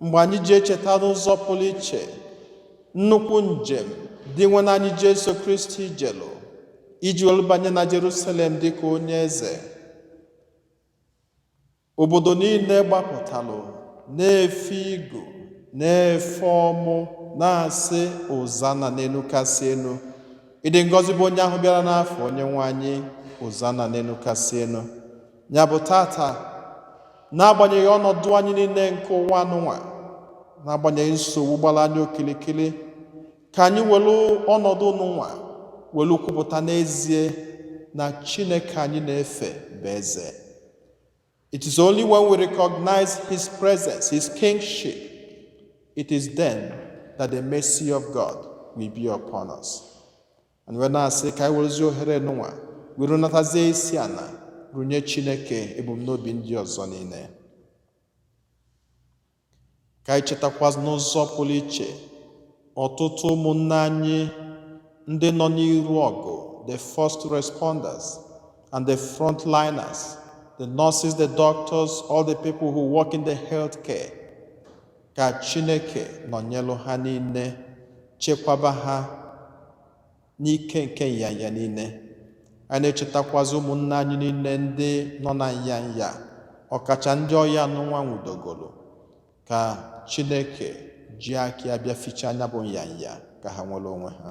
mgbe anyị ji echeta n'ụzọ pụrụ iche nnukwu njem Dinwenụ anyị Jesu Kristi jelu iji were banye na Jerusalem dị ka onye eze obodo niile gbapụtalụ na-efe igu na-efe ọmụ na-asị Hozana n'elu kasị elu ịdị ngọzi bụ onye ahụ bịara n'afa onye nwe anyị Hozana n'elu kasị elu nya bụ tata n'agbanyeghị ọnọdụ anyị niile nke ụwa anụnwa n'agbanyeghị nsogbu gbara anyị okilikili ka anyị welu ọnọdụ nụnwa welu kwupụta n'ezie na Chineke anyị na-efe bụ eze It is only when we recognize His presence, His kingship, it is then that the mercy of God will be upon us. anyị wee na-asị ka anyị werezie ohere nụnwa were natazie isi ana runye chineke ebumnobi ndị ọzọ niile ka anyị chetakwa n'ụzọ pụrụ iche ọtụtụ ụmụnne anyị ndị nọ n'iru ọgụ the first responders and the frontliners the nurses the doctors all the people who work in the health care Ka Chineke nọnyelụ ha niile, chekwaba ha n'ike nke nyanya niile. Anyị na-echetakwazị ụmụnna anyị niile ndị nọ na nyanya, ọkacha ndị ọya anụnwa nwụdogolo, ka Chineke ji aka ya bịa fichaa nya bụ nyanya ka ha nwere onwe ha.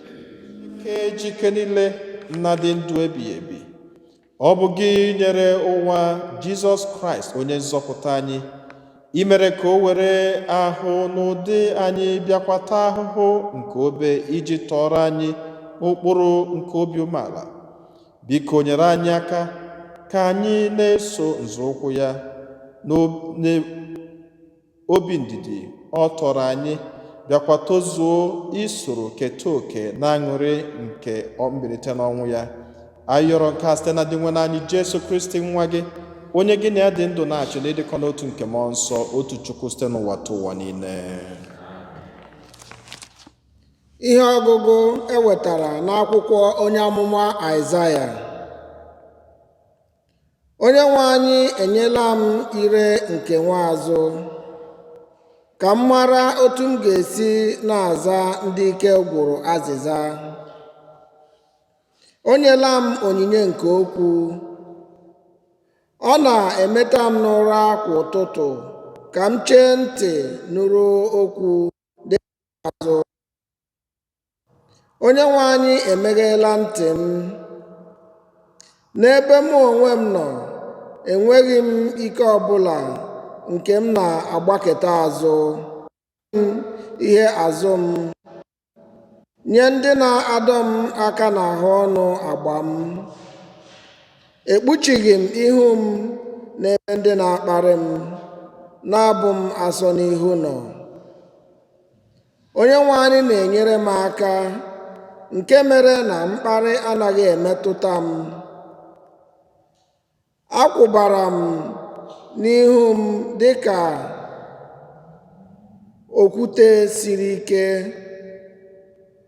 ke ji ike niile na-adị ndụ ebighị ebi ọ bụ gị nyere ụwa jizọs kraịst onye nzọpụta anyị i mere ka o were ahụ n'ụdị anyị bịakwa taa ahụhụ nke obe iji tọọrọ anyị ụkpụrụ nke obi umeala biko nyere anyị aka ka anyị na-eso nzọụkwụ ya obi ndidi ọ tọrọ anyị bịakwa tozuo isoro keta oke n'aṅụrị nke mbilite n'ọnwụ ya anyị yọrọ nke a site na Dinwenụ anyị Jesu Kristi nwa gị onye gị na ya dị ndụ na-achị n'ịdịkọ n'otu nke mmụọ nsọ otu Chukwu site n'ụwatụwa niile ihe ọgụgụ e wetara n'akwụkwọ onye amụma Aịzaya onye nwe anyị enyela m ire nke nwa azụ ka m mara otu m ga-esi na-aza ndị ike gwụrụ azịza o nyela m onyinye nke okwu ọ na-emeta m n'ụra kwa ụtụtụ ka m chee ntị nụrụ okwu azụ onye nwe anyị emegheela ntị m n'ebe mụ onwe m nọ enweghị m ike ọbụla nke m na-agbakụta azụ ihe azụ m nye ndị na-adọ m aka n'ahụ ọnụ agba m Ekpuchighị m ihu m n'ebe ndị na-akparị m, na-abụ m asọ n'ihu nọ. Onyenwe anyị na-enyere m aka, nke mere na mkparị anaghị emetụta m. Akwụbara m n'ihu m dị ka okwute siri ike.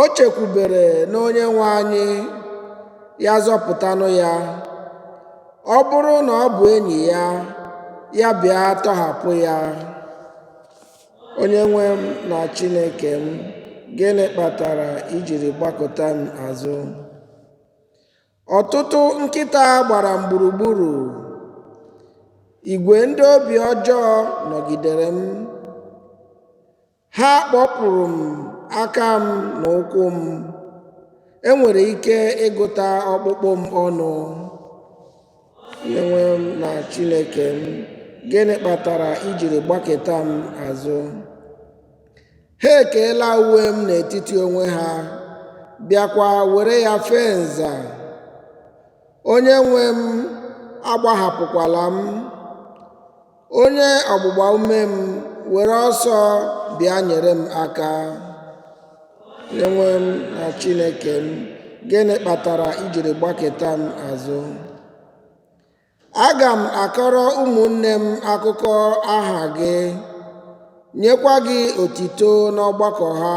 O chekwubere n'onye nwe anyị, ya zọpụtanụ ya. Ọ bụrụ na ọ bụ enyi ya, ya bịa tọhapụ ya. Onye nwe m na Chineke m, gịnị kpatara i jiri gbakụta m azụ? Ọtụtụ nkịta gbara m gburugburu. Igwe ndị obi ọjọọ nọgidere m. Ha kpọpụrụ m aka m na ụkwụ m, e nwere ike ịgụta ọkpụkpụ m ọnụ. Onyenwe m na Chineke m, gịnị kpatara i jiri gbakụta m azụ? Ha ekeela uwe m n'etiti onwe ha, bịakwa were ya fee nza. Onyenwe m, agbahapụkwala m. Onye ọgbụgba ume m were ọsọ bịa nyere m aka. Onyenwe m na Chineke m, gịnị kpatara i jiri gbakụta m azụ? Aga m akọrọ ụmụnne m akụkọ aha gị, nyekwa gị otito n'ọgbakọ ha.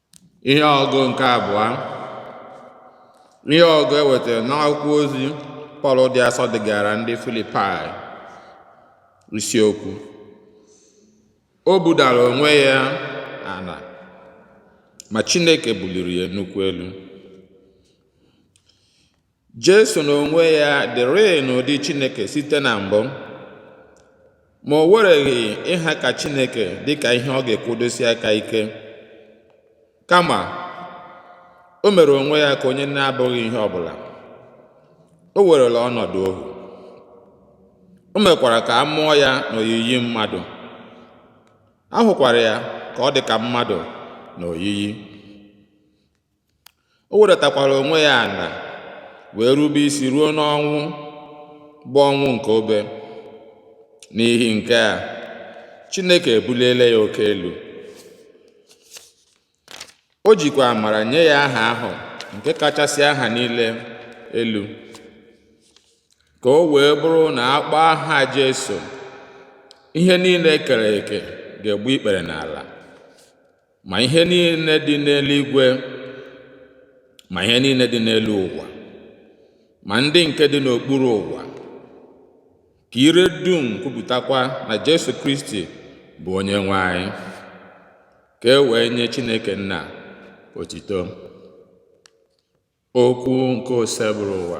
ihe ọgụ nke abụọ ihe ọgụ e wetara n'akwụkwọ ozi pọl dị asọ degara ndị filipai isiokwu o budara onwe ya ala ma chineke buliri ya nnukwu elu Jesu n'onwe ya dịrịị n'ụdị Chineke site na mbụ, ma o wereghị ịha ka Chineke dị ka ihe ọ ga-ekwudosi aka ike. Kama, o mere onwe ya ka onye na-abụghị ihe ọ bụla. O werela ọnọdụ ohu. O mekwara ka a mụọ ya n'oyiyi mmadụ. A hụkwara ya ka ọ dị ka mmadụ n'oyiyi. o wedatakwara onwe ya ala wee rube isi ruo n'ọnwụ bụ ọnwụ nke obe n'ihi nke a chineke ebuliela ya oke elu o jikwa amara nye ya aha ahụ nke kachasị aha niile elu ka o wee bụrụ na a kpọọ aha Jesu ihe niile e kere eke ga-egbu ikpere n'ala ma ihe niile dị n'eluigwe ma ihe niile dị n'elu ụwa ma ndị nke dị n'okpuru ụwa ka ire dum kwupụtakwa na Jesu Kristi bụ onye nwe anyị ka e wee nye Chineke nna otito okwu nke Oseburụwa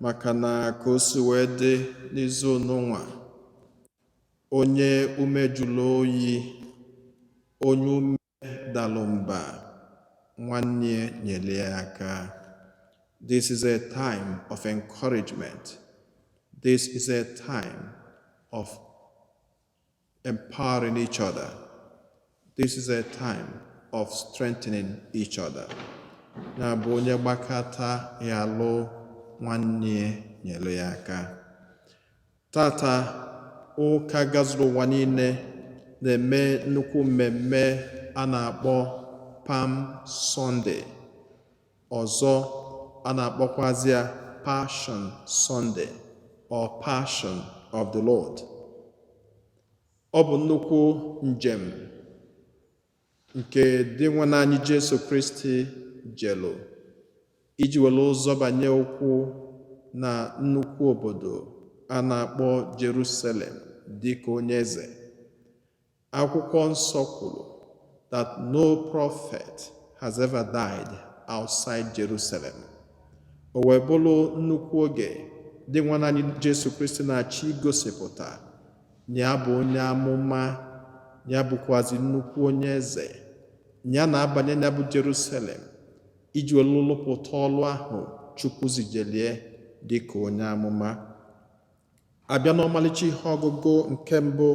maka na ka o si wee dị n'izu nunwa onye ume jụrụ oyi onye ume dalụ mba nwanne ya nyere ya aka this is a time of encouragement this is a time of Empowering each other. This is a time of strengthening each other. Ya bụ onye gbakọta ya alụ nwanne ya nyere ya aka. Tata ụka gazuru ụwa niile na-eme nnukwu mmemme a na-akpọ Palm Sunday. Ọzọ, a na-akpọkwazị ya Passion Sunday or Passion of the Lord. Ọ bụ nnukwu njem nke Dinwenụ anyị Jesu Kristi jelu iji welu zọbanye ụkwụ na nnukwu obodo a na-akpọ Jerusalem dịka onye eze. Akwụkwọ nsọ kwuru that no prophet has ever died outside Jerusalem. O wee bụrụ nnukwu oge Dinwenụ anyị Jesu Kristi na-achọ igosipụta na ya bụ onye amụma ya bụkwazi nnukwu onye eze ya na-abanye na ya bụ Jerusalem iji welu lụpụta ọlụ ahụ Chukwu zijelie dị ka onye amụma A bịa n'ọmalịcha ihe ọgụgụ nke mbụ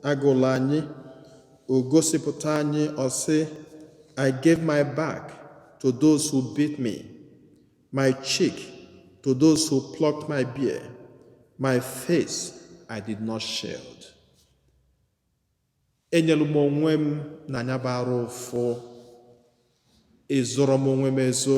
a gụlụ anyị, o gosipụta anyị ọ sị I gave my back to those who beat me, my cheek to those who plucked my beard, my face I did not shield. Enyelu m onwe m na anya bara ụfụ, ezoro m onwe m ezo.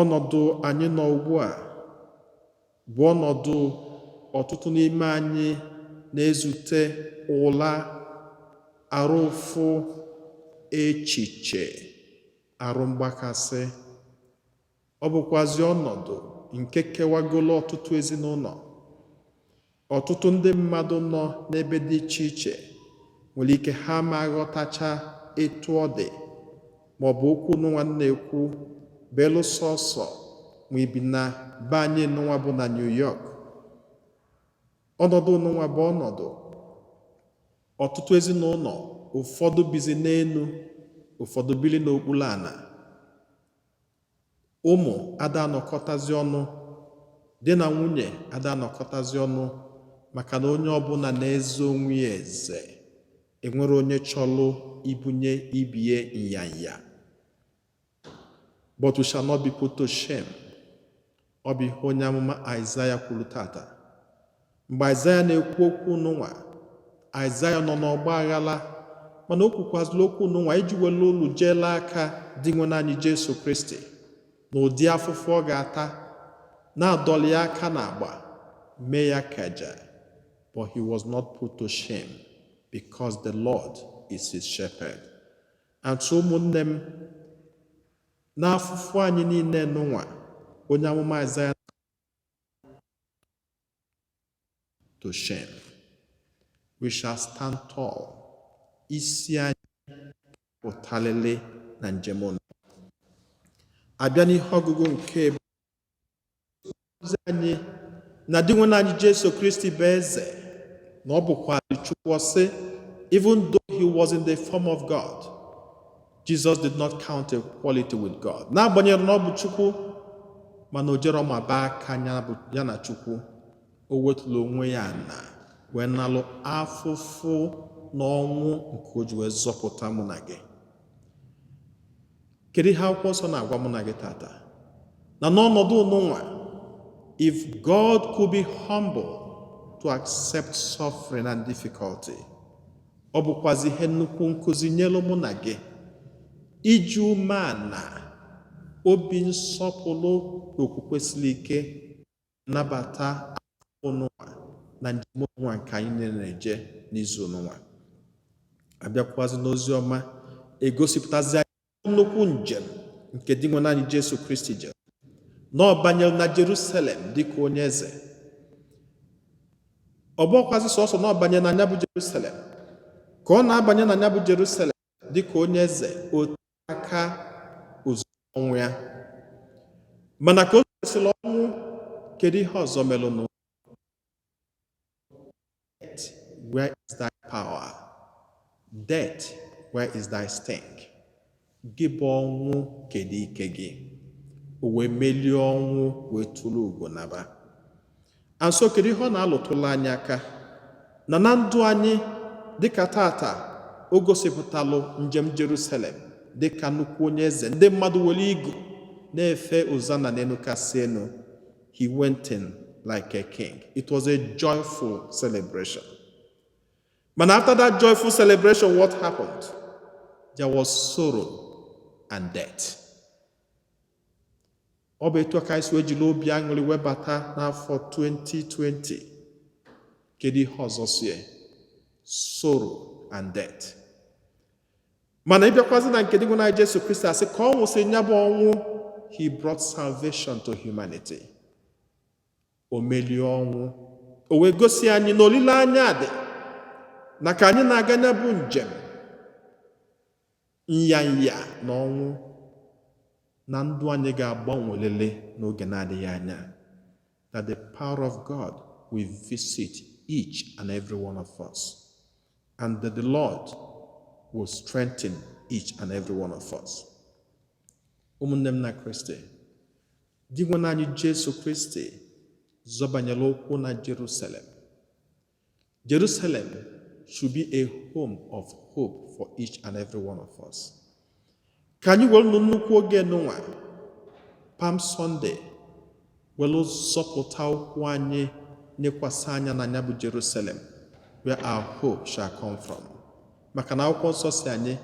Ọnọdụ anyị nọ ugbu a bụ ọnọdụ ọtụtụ n'ime anyị na-ezute ụla, arụ ụfụ, echiche, arụ mgbakasị. Ọ bụkwazi ọnọdụ nke kewagolo ọtụtụ ezinụnọ. Ọtụtụ ndị mmadụ nọ n'ebe dị iche iche nwere ike ha ma aghọtacha etu ọ dị ma ọ bụ okwu nụnwa m na-ekwu belu sọsọ ma i bi na be anyị nụnwa bụ na New York. Ọnọdụ nụnwa bụ ọnọdụ ọtụtụ ezinụnọ ụfọdụ bizi n'enu ụfọdụ biri n'okpuru ana Ụmụ ada anọkọtazi ọnụ, di na nwunye ada anọkọtazi ọnụ maka na onye ọbụla na-eze onwe ya eze. Enwerọ onye chọlụ ibunye ibie nyanya. But we shall not be put to shame. Ọ bụ ihe onye amụma Aịzaya kwuru tata. Mgbe Aịzaya na-ekwu okwu nụnwa, Aịzaya nọ n'ọgba aghara mana o kwukwazịla okwu nụnwa iji were olu jeela aka Dinwenụ anyị Jesu Kristi na ụdị afụfụ ọ ga-ata na-adọli ya aka n'agba mee ya akaja but he was not put to shame because the Lord is his shepherd. And so ụmụnne m N'afụfụ anyị niile nụnwa, onye amụma Aịzaya to shame. We shall stand tall. Isi anyị pụtalele na njem ụnụ. A bịa n'ihe ọgụgụ nke ozi anyị na Dinwenụ anyị Jesu Kristi bụ eze na ọ bụkwa Chukwu ọ sị even though he was in the form of God Jesus did not count equality with God n'agbanyeghị na ọ bụ Chukwu mana o jerọ maba aka ya na Chukwu o wetulu onwe ya ana wee nalụ afụfụ na ọnwụ nke o ji wee zọpụta mụ na gị Kedu ihe akwụkwọ nsọ na-agwa mụ na gị tata? Na n'ọnọdụ ụnụnwa, if God could be humble to accept suffering and difficulty, ọ bụkwazi ihe nnukwu nkụzi nyelu mụ na gị iji umeana obi nsọpụlụ na okwukwe siri ike nabata ụnụnwa na njem ụnụnwa nke anyị niile na-eje n'izu ụnụnwa a bịakwazi n'ozi ọma e gosipụtazi anyị nnukwu njem nke Dinwenụ anyị Jesu Kristi jere na ọ banyere na Jerusalem dịka onye eze ọ bụkwazi sọsọ na ọ banyere na nya bụ Jerusalem ka ọ na-abanye na nya bụ Jerusalem dịka onye eze otu aka ozugbo ọnwụ ya mana ka o mesịrị ọnwụ kedu ihe ọzọ melụnụ where is thy power death where is thy sting gị bụ ọnwụ kedu ike gị o wee melie ọnwụ wee turu ugo naba And so kedu ihe ọ na-alụtụlụ anyị aka na na ndụ anyị dịka taata o gosipụtalụ njem Jerusalem dịka nnukwu onye eze ndị mmadụ were igu na-efe Hosanna n'enu kasị enu he went in like a king it was a joyful celebration mana after that joyful celebration what happened there was sorrow and death ọ bụ etu ka anyị si wee jiri obi aṅụrị wee bata n'afọ 2020 kedu ihe ọzọ sie sorrow and death mana ị bịakwazị na nke Dinwenụ anyị Jesu Kristi a sị ka ọ nwụsị nya bụ ọnwụ he brought salvation to humanity o melie ọnwụ o wee gosi anyị na olileanya dị na ka anyị na-aga nya bụ njem Nyanya na ọnwụ na ndụ anyị ga-agbanwelịlị n'oge na-adịghị anya that the power of God will visit each and every one of us and that the Lord will strengthen each and every one of us. Ụmụnne m na Kristi, Dinwenụ anyị Jesu Kristi zọbanyela ụkwụ na Jerusalem Jerusalem should be a home of hope for each and every one of us. ka anyị werenụ nnukwu oge nụnwa Palm Sunday were zọpụta ụkwụ anyị nekwasị anya na nya bụ jerusalem where our hope shall come from maka na akwụkwọ nsọ sị anyị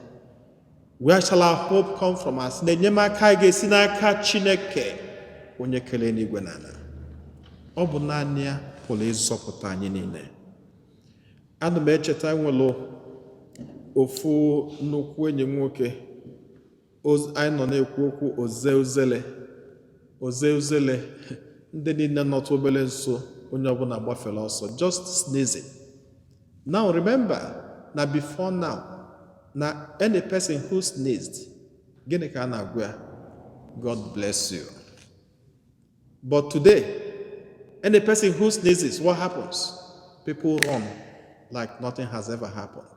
where shall our hope come from ọ sị na enyemaka anyị ga-esi n'aka chineke onye kere enuigwe na ala ọ bụ naanị ya pụrụ ịzọpụta anyị niile ana m echeta nwere ofu nnukwu enyi nwoke anyị nọ na-ekwu okwu o zee uzele o zee uzele ndị niile nọtụ obere nso onye ọbụla gbafere ọsọ just sneezing now remember na before now na any person who sneezed gịnị ka a na-agwa ya god bless you but today any person who sneezes what happens people run like nothing has ever happened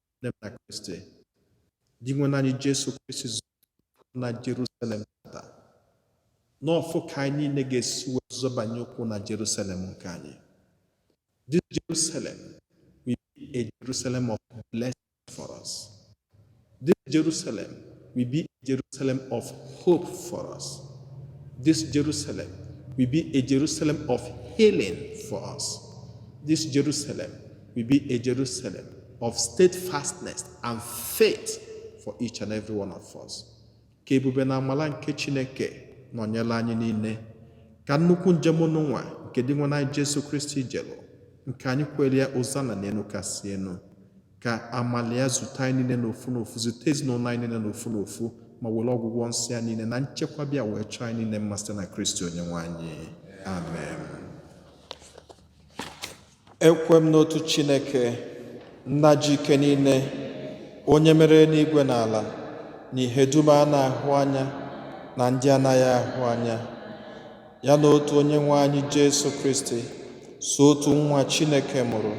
nne m na Kristi Dinwenụ anyị Jesu Kristi zọrọ na Jerusalem tata nọfụ ka anyị niile ga-esi wee zọbanye ụkwụ na Jerusalem nke anyị this Jerusalem will be a Jerusalem of blessing for us this Jerusalem will be a Jerusalem of hope for us this Jerusalem will be a Jerusalem of healing for us this Jerusalem will be a Jerusalem of steadfastness and faith for each and every one of us. Ka ebube na amala nke Chineke nọnyelụ anyị niile ka nnukwu njem nunwa nke Dinwenụ anyị Jesu Kristi jelụ nke anyị kwelụ ya Ozana n'enu kasị enu ka amala ya zute anyị niile n'ofu n'ofu zute ezinụlọ anyị niile n'ofu n'ofu ma welụ ọgwụgwọ nsọ ya niile na nchekwa bịa wee chọọ anyị niile mma site na Kristi onye nwe anyị amen ekwe m n'otu chineke nna ji ike niile onye mere enuigwe na ala na ihe dum a na-ahụ anya na ndị anaghị ahụ anya ya na otu onye nwe anyị jesu kristi sọ otu nwa chineke mụrụ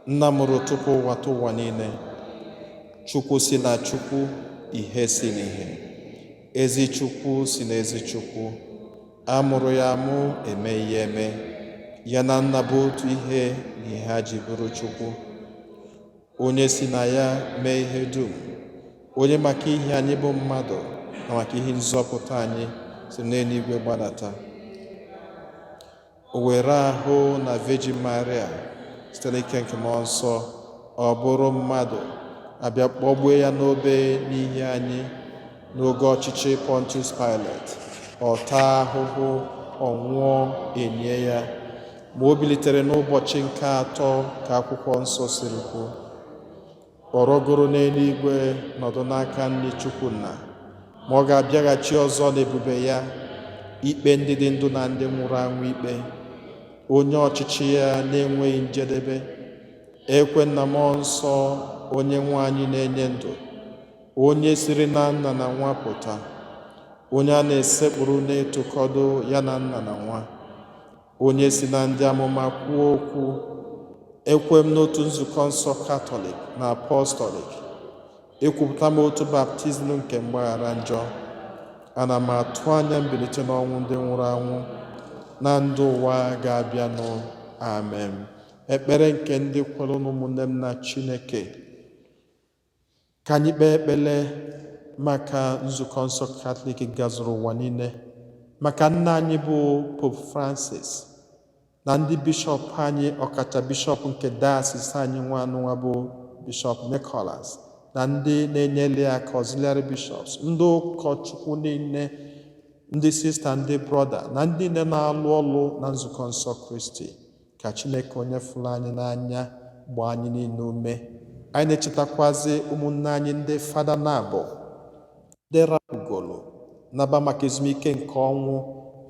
nna mụrụ tupu ụwatụwa niile chukwu si na chukwu ihe si n'ihe ezi chukwu si na ezi chukwu A mụrụ ya amụ emeghị ya eme, ya na nna bụ otu ihe n'ihe ha ji bụrụ Chukwu. Onye si na ya mee ihe dum, onye maka ihi anyị bụ mmadụ na maka ihi nzọpụta anyị si n'enuigwe gbadata. O were ahụ na Virgin Maria site n'ike nke mmụọ nsọ, ọ bụrụ mmadụ, a bịa kpọgbue ya n'obe n'ihi anyị. n'oge ọchịchị Pọntius Pilet ọ taa ahụhụ ọ nwụọ e nie ya ma o bilitere n'ụbọchị nke atọ ka akwụkwọ nsọ siri kwuo ọ rọgoro n'enuigwe nọdụ n'aka nri Chukwu nna ma ọ ga-abịaghachi ọzọ n'ebube ya ikpe ndị dị ndụ na ndị nwụrụ anwụ ikpe onye ọchịchị ya na-enweghị njedebe ekwe m na mmụọ nsọ onye nwe anyị na-enye ndụ onye siri na nna na nwa pụta onye a na-esekpuru na-etokọdo ya na nna na nwa onye si na ndị amụma kwuo okwu ekwe m n'otu nzukọ nsọ katọlik na apọstọlik ekwupụta m otu baptizim nke mgbaghara njọ ana m atụ anya mbilite n'ọnwụ ndị nwụrụ anwụ na ndụ ụwa ga-abịanụ amen ekpere nke ndị kwerenụ ụmụnne m na chineke Ka anyị kpee ekpele maka Nzukọ nsọ Katọlik gazuru ụwa niile, maka nna anyị bụ Pope Francis na ndị bishọp anyị ọkacha bishọp nke dayasis anyị nwa anụnwa bụ Bishọp Nicholas na ndị na-enyere ya aka auxiliary bishops ndị ụkọchukwu niile ndị sista ndị brọda na ndị niile na-alụ ọlụ na nzukọ nsọ kristi ka chineke onye fụrụ anyị n'anya gbaa anyị niile ume anyị na-echetakwazi ụmụnne anyị ndị fada naabọ ndị rapụgolo naba maka ezumike nke ọnwụ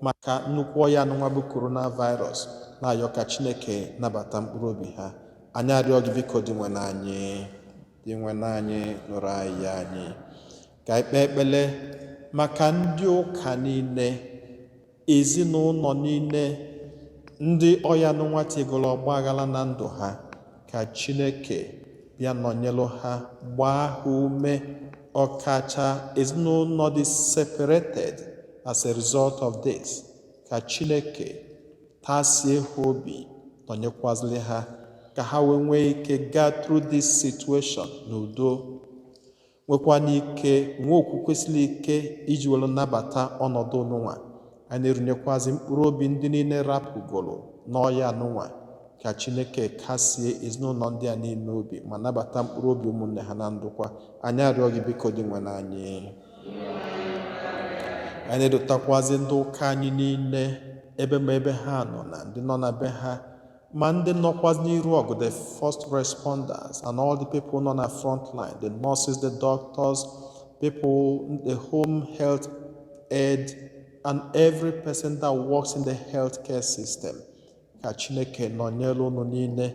maka nnukwu ọya anụnwa bụ coronavirus na-ayọ ka chineke nabata mkpụrụ obi ha anyị arịọ gị biko Dinwenụ anyị Dinwenụ anyị nụrụ ayịyọ anyị ka anyị kpee ekpele maka ndị ụka niile Ezinaụnọ niile ndị ọya anụnwa tigoro ọgba aghara na ndụ ha ka Chineke bịa nọnyelụ ha gbaa ha ume ọkacha ezinaụnọ dị separated as a result of this ka Chineke tasie ha obi nọnyekwazili ha ka ha wee nwee ike gaa through this situation n'udo nwekwana ike nwee okwukwe siri ike iji were nabata ọnọdụ anụnwa anyị na-erunyekwazi mkpụrụ obi ndị niile rapụgoro n'ọya anụnwa ka chineke kasie ezinaụnọ ndị a niile obi ma nabata mkpụrụ obi ụmụnne ha na ndokwa anyị arịọ gị biko Dinwenụ anyị anyị na-edotakwazi ndị ụka anyị niile ebe ma ebe ha nọ na ndị nọ na be ha ma ndị nọkwazị n'iru ọgụ the first responders and all the people nọ na front line the nurses the doctors people the home health aide and every person that works in the healthcare system ka chineke nọnyere unu niile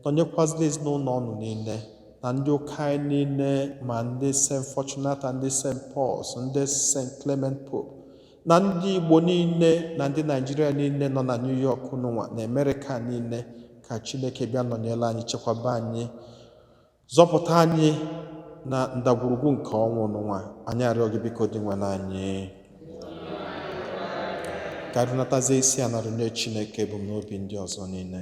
nọnyekwazili ezinaụnọ unu niile na ndị ụka anyị niile ma ndị St. Fortunata ndị St. Paul's ndị St. Clement Pope na ndị Igbo niile na ndị Naijiria niile nọ na New York nwa na Amerịka niile ka Chineke bịa nọnyere anyị chekwaba anyị zọpụta anyị na ndagwurugwu nke ọnwụ anụnwa anyị arịọ gị biko Dinwenụ anyị ka anyị runatazie isi ana runye Chineke ebumnobi ndị ọzọ niile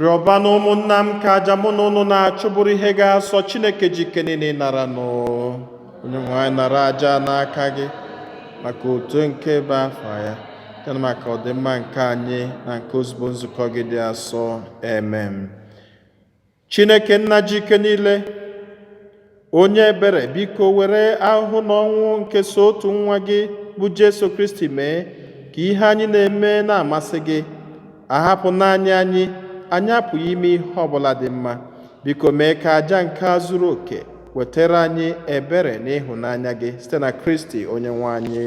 rịọbanụ ụmụnna m ka aja mụ na unu na-achụ bụrụ ihe ga-asọ chineke ji ike niile ịnara nụ onye nwe anyị nara aja n'aka gị maka otito nke ebube afa ya ya na maka ọdịmma nke anyị na nke ozugbo nzukọ gị dị asọ amen chineke nna ji ike niile Onye ebere, biko were ahụhụ na ọnwụ nke sọ otu nwa gị bụ Jesu Kristi mee ka ihe anyị na-eme na-amasị gị. A hapụ naanị anyị, anyị apụghị ime ihe ọ bụla dị mma. Biko mee ka aja nke a zuru oke wetara anyị ebere na ịhụnanya gị site na Kristi Onyenwe anyị.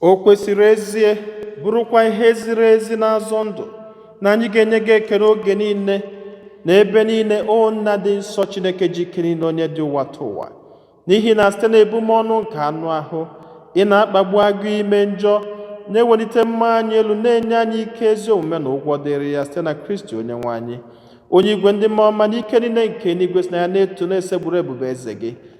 o kwesịrị ezie bụrụkwa ihe ziri ezi na-azọ ndụ na anyị ga-enye gị ekele oge niile na ebe niile o nna dị nsọ chineke ji ike niile onye dị ụwatụwa n'ihi na site na ebumọnụ nke anụ ahụ ị na-akpagbu agụụ ime njọ na-ewelite mmụọ anyị elu na-enye anyị ike ezi omume na ụgwọ dịrị ya site na kristi onye nwe anyị onye igwe ndị mmụọ ọma na ike niile nke eluigwe si na ya na-eto na-esekpuru ebube eze gị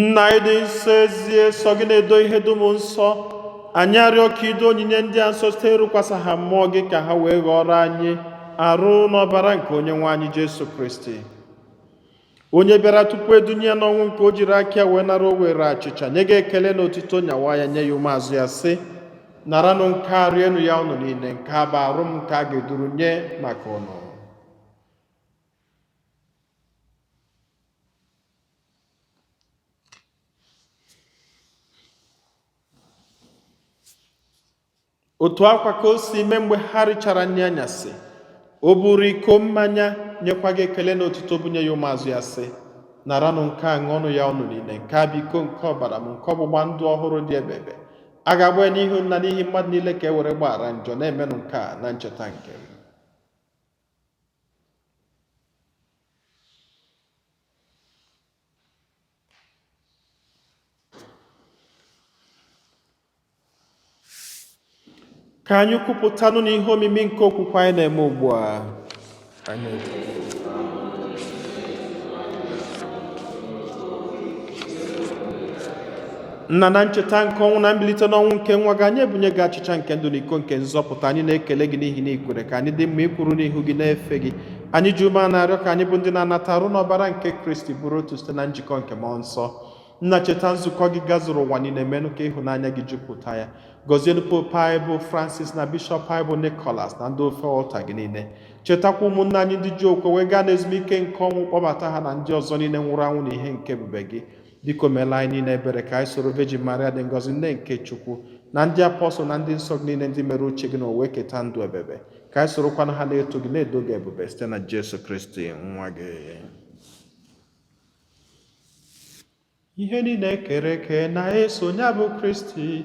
nna ị dị nsọ ezie sọ gị na-edo ihe dum nsọ anyị arịọ ka i doo onyinye ndị a nsọ site ịrụkwasa ha mmụọ gị ka ha wee ghọrọ anyị arụ na ọbara nke onye nwe anyị jesu kristi onye bịara tupu e dunye ya n'ọnwụ nke o jiri aka ya wee nara o were achịcha nye gị ekele na otito nyawa ya nye ya ụmụazụ ya sị naranụ nke a rienụ ya ụnụ niile nke a bụ arụ m nke a ga-eduru nye maka ụnụ otu a kwa ka o si mee mgbe ha richara nri anyasị o buru iko mmanya nyekwa gị ekele na otuto bunye ya ụmụazụ ya sị naranụ nke a ṅụọnụ ya ụnụ niile nke a bụ iko nke ọbara m nke ọgbụgba ndụ ọhụrụ dị ebebe a ga-agba ya n'ihi ụnụ na n'ihi mmadụ niile ka e were gbaghara njọ na-emenụ nke a na ncheta nke m ka anyị kwupụtanụ na ihe omimi nke okwukwe anyị na-eme ugbu a nna na ncheta nke ọnwụ na mbilite n'ọnwụ nke nwa gị anyị ebunye gị achịcha nke ndụ na iko nke nzọpụta anyị na-ekele gị n'ihi na i kwere ka anyị dị mma ịkwụrụ n'ihu gị na-efe gị anyị ji umeana arịọ ka anyị bụ ndị na-anata arụ na ọbara nke kristi bụrụ otu site na njikọ nke mmụọ nsọ nna cheta nzukọ gị gazuru ụwa niile menụ ka ịhụnanya gị jupụta ya gọzienụ pope anyị bụ francis na bishọp anyị bụ nicholas na ndị ofe ọlta gị niile chetakwa ụmụnna anyị ndị ji okwukwe wee gaa n'ezumike nke ọnwụ kpọbata ha na ndị ọzọ niile nwụrụ anwụ na ihe nke ebube gị biko meelụ anyị niile ebere ka anyị soro Virgin Maria dị ngọzi nne nke Chukwu na ndị apọstụl na ndị nsọ gị niile ndị mere uche gị n'ụwa keta ndụ ebebe ka anyị sorokwanụ ha na-eto gị na-edo gị ebube site na Jesu Kristi nwa gị ihe niile e kere eke na-eso ya bụ Kristi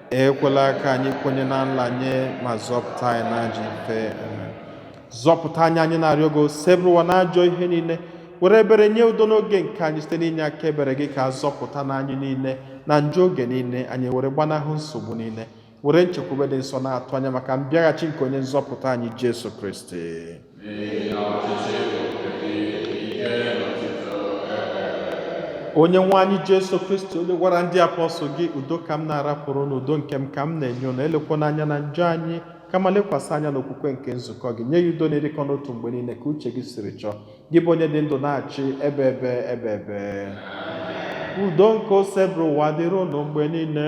ekwela ka anyị kwenye na nlanye ma zọpụta anyị na ajọ ife zọpụta anyị anyị na-arịọ gị osebụrụwa na ajọ ihe niile were ebere nye udo n'oge nke anyị site n'inye aka ebere gị ka a zọpụta na anyị niile na njọ oge niile anyị were gbanahụ nsogbu niile were nchekwube dị nsọ na-atụ anya maka mbịaghachi nke onye nzọpụta anyị Jesu Kristi onye nwe anyị jesu kristi onye gwara ndị apọstụl gị udo ka m na-arapụrụ unu udo nke m ka m na-enye unu elekwana anya na njọ anyị kama lekwasị anya n'okwukwe nke nzukọ gị nye ya udo na ịdịkọ n'otu mgbe niile ka uche gị siri chọọ gị bụ onye dị ndụ na-achị ebebe ebebe udo nke osebụrụwa dịrị unu mgbe niile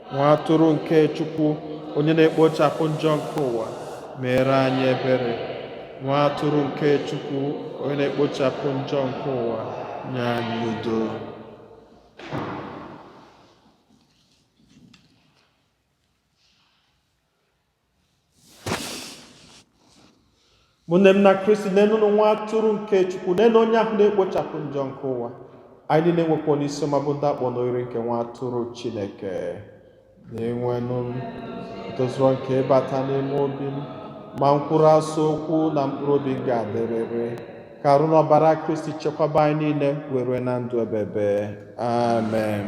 nwa atụrụ nke chukwu onye na-ekpochapụ njọ nke ụwa meere anyị ebere nwa atụrụ nke chukwu onye na-ekpochapụ njọ nke ụwa nye anyị udo ụmụnne m na kristi nenụnụ nwa atụrụ nke chukwu nenụ onye ahụ na-ekpochapụ njọ nke ụwa anyị niile nwekwanụ isi ọma bụ ndị akpọ n'oriri nke nwa atụrụ chineke dinwenụ m tozurọ nke ịbata n'ime obi m ma kwuru sọ okwu na mkpụrụ obi m ga-adịrịrị ka arụ na ọbara kristi chekwaba anyị niile wee rue na ndụ ebebe amen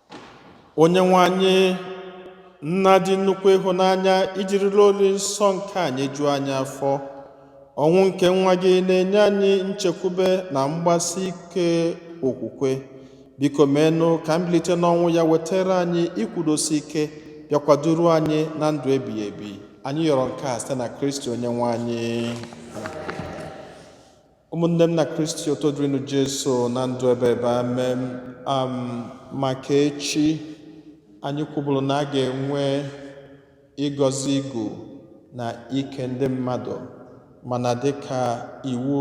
onye nwe anyị nna dị nnukwu ịhụnanya i jirila olili nsọ nke a nyejuo anyị afọ ọnwụ nke nwa gị na-enye anyị nchekwube na mgbasi ike okwukwe biko meenụ ka mbilite n'ọnwụ ya wetara anyị ikwudosi ike bịakwa duru anyị na ndụ ebighị ebi anyị yọrọ nke a site na kristi onye nwe anyị ụmụnne m na kristi otito dịrịnụ jesu na ndụ ebebe amen maka echi anyị kwuburu na a ga-enwe ịgọzi igu na ike ndị mmadụ mana dịka iwu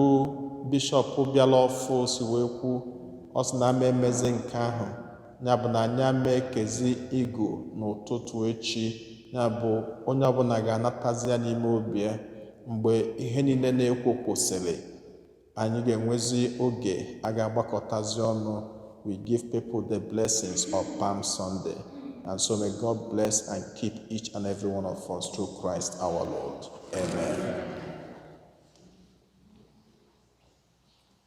bishọp bịara ọfụụ si wee kwu ọ sị na a ma emezi nke ahụ ya bụ na anyị ama ekezi igu n'ụtụtụ echi ya bụ onye ọbụla ga-anatazi ya n'ime obi ya mgbe ihe niile na-ekwo kwụsịrị anyị ga-enwezi oge a ga-agbakọtazi ọnụ we give people the blessings of Palm Sunday and so may God bless and keep each and every one of us through Christ our Lord amen